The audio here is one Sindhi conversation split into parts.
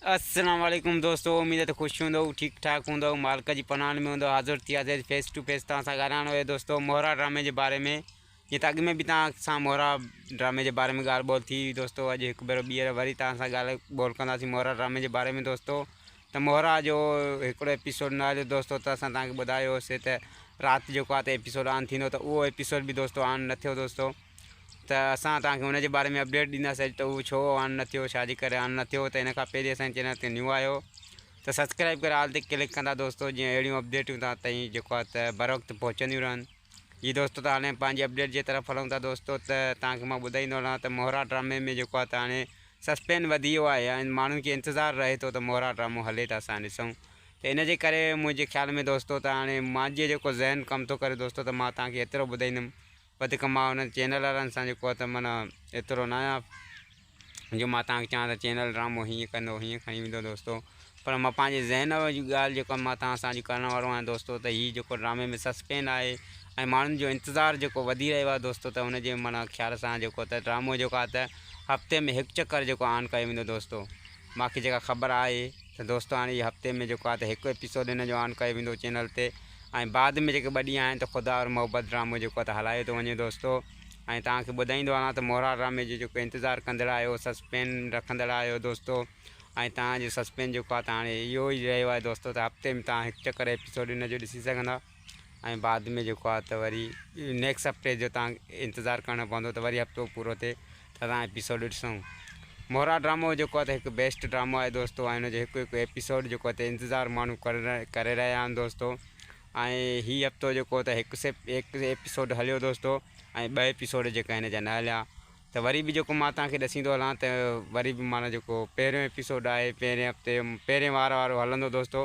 السلام علیکم دوستو اميد ته خوش هوندو ٺيڪ ٺاڪ هوندو مالڪ جي پناهن ۾ هوندو حاضر ٿي آزاد فيس ٽو فيس تان سان ڳالهائڻو هي دوستو مورا ڊرامي جي باري ۾ جي تاڪي ۾ به تان سان مورا ڊرامي جي باري ۾ ڳالهه ٻول ٿي دوستو اڄ هڪ بيرو ٻيهر وري تان سان ڳالهه ٻول ڪندا سي مورا ڊرامي جي باري ۾ دوستو ته مورا جو هڪڙو ايپيسوڊ نه آيو دوستو ته اسان تان کي ٻڌايو سي ته رات جو ڪا ته ايپيسوڊ آن ٿيندو ته اهو ايپيسوڊ به دوستو آن نه ٿيو دوستو ته اسان توهان کي ان جي باري ۾ اپڊيٽ ڏينداسين ته اهو ڇو آن نه ٿيو ڇا جي ڪري آن نه ٿيو ته ان کان پهرين اسان جي چينل تي نيو آهيو ته سبسڪرائب ڪري آل تي ڪلڪ ڪندا دوستو جيئن اهڙيون اپڊيٽون تان تائين جيڪو آهي ته بر وقت پهچنديون رهن جي دوستو ته هاڻي پنهنجي اپڊيٽ جي طرف هلون ٿا دوستو ته توهان کي مان ٻڌائيندو هلان ته مهرا ڊرامي ۾ جيڪو آهي ته هاڻي سسپين وڌي ويو آهي ۽ ماڻهن کي انتظار رهي ٿو ته مهرا ڊرامو هلي ته اسان ڏسون ته ان جي ڪري منهنجي خيال ۾ دوستو ته هاڻي مانجي جيڪو ذهن ڪم ٿو ڪري دوستو ته مان توهان کي ايترو ٻڌائيندم وڌيڪ مان انهن چينل وارن سان جيڪو ته معنيٰ ايترو نه آهيان جو مان توهان کي چوان ته چينل ڊرامو هيئن ڪندو هيئن کڻي ويندو دوستو پر مان پنهنجي ذهن جي ڳالهه جيڪو مان توهان سان اڄ ڪرڻ وارو آهيان دوستو ته هي جيڪو ڊرامي ۾ سسپين آهي ۽ ماڻهن جو انتظار جيڪو وڌي رهيو آهي دوستو ته ان جي معنيٰ خيال سان جيڪو ته ڊرامو جيڪو آهي ته هفتي ۾ هڪ چڪر جيڪو آن ڪيو ويندو دوستو مانکي جيڪا خبر آهي ته دوستو هاڻي هي هفتي ۾ جيڪو آهي ته هڪ ايپيسوڊ هن جو آن ڪيو ويندو چينل تي ۽ بعد ۾ جيڪي ٻه ڏينهن آهن ته خدا اور محبت ڊرامو جيڪو آهي ته هلايو ٿو وڃي دوستو ۽ توهان کي ٻڌائيندو هلان ته مورا ڊرامي جو جيڪو انتظار ڪندڙ آهيو سسپين رکندڙ آهيو دوستو ۽ توهان جو سسپين جيڪو آهي ته هاڻي اهو ئي رهيو آهي دوستو ته هفتي ۾ توهان هڪ چڪر ايپيسوڊ هن جو ڏسي سگهندا ۽ بعد ۾ جيڪو آهي ته وري نيڪس هفتي جو تان انتظار ڪرڻو پوندو ته وري هفتو پورو ٿئي ته اسان ايپيسوڊ ڏسون مورا ڊرامو جيڪو آهي ته هڪ بيسٽ ڊرامو آهي دوستو ۽ ان جو هڪ هڪ ايپيسوڊ جيڪو آهي ته انتظار ماڻهو ڪري رهيا آهن دوستو ۽ هي هفتو جيڪو ته هڪ سيپ هڪ ايپيسوڊ هليو دوستو ۽ ٻه ايپيسوڊ جيڪا هن جا نه هليا ته وري به جيڪو مان توهان کي ڏسين ٿو هلان ته وري به معنيٰ جيڪو پهريون ايپيسوڊ آهي پهرين هفتي پهرين وار وارو هلندو دوستو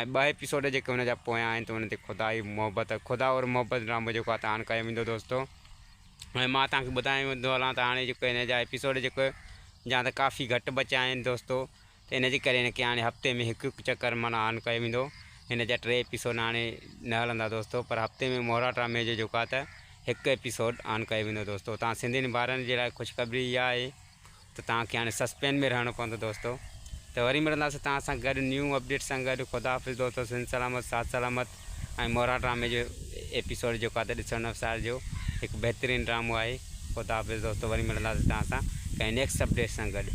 ۽ ٻه ايپيسوڊ جيڪي ان جا پويان آهن ته ان تي خدا ئي محبت خدا اور محبت ڊرامو جيڪو آهي ته هاڻ ڪيو ويندو دوستو ۽ مان توهان کي ٻڌايو ويندو هلان ته هاڻي جيڪو هن جا ايپيسوڊ جيڪو جا ته ڪافي گهٽ بچيا آهن دوستو ان جي ڪري هن کي هاڻي هفتي ۾ هڪ هڪ چڪر معنيٰ آن ڪيو ويندو هن جا ٽي ايپيسوڊ هاڻي نه هلندا دوستو پر هفتي ۾ مهرا ڊرامي جو جيڪو آهي ته هڪ ايپيسوڊ آن ڪيو ويندو دوستو تهان سنڌين ڀائرن جي لاء خوشخبري اها آهي ته تهان کي هاڻي سسپين ۾ رهڻو پوندو دوستو ته وري ملنداسين تهان سان گڏ نيو اپڊيٽ سان گڏ خدا حافظ دوستو سنڌ سلامت ساٿ سلامت ۽ مهرا ڊرامي جو ايپيسوڊ جيڪو آهي ته ڏسڻ نه وسارجو هڪ بهترين ڊرامو آهي خدا حافظ دوستو وري ملنداسين تهان سان ڪنهن نيڪسٽ اپڊيٽ سان گڏ